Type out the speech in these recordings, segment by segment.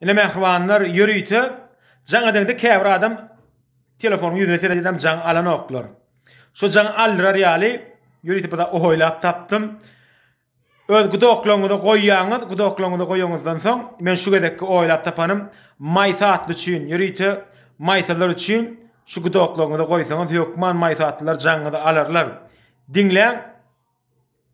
Ine mähribanlar ýörite jaň edende käbir adam telefonyň ýüzüne seredendem jaň alanoklar. Şu jaň aldyrar ýaly ýörite bir ohoýlap tapdym. Öz gudoklaryňyza goýýaňyz, gudoklaryňyza goýanyňyzdan soň men şu gezekki oýlap tapanym maýsa atly üçin ýörite maýsalar üçin şu gudoklaryňyza goýsaňyz hökman maýsa atlylar jaňyňyzy alarlar. Diňläň.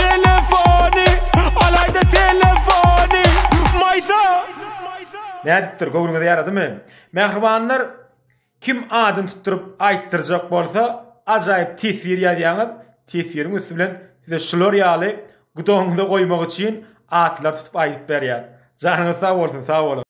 Telefony, alaýda telefony, maýsa. Nädipdir, göwnüňize ýaradymy? Mähribanlar, kim adyny tutduryp aýtdyrjak bolsa, ajaýyp teswir ýazýaňyz, teswiriň üsti bilen size şular ýaly gudagyňyza goýmak üçin atlar tutup aýdyp berýän. Janyňyz sag bolsun, sag boluň!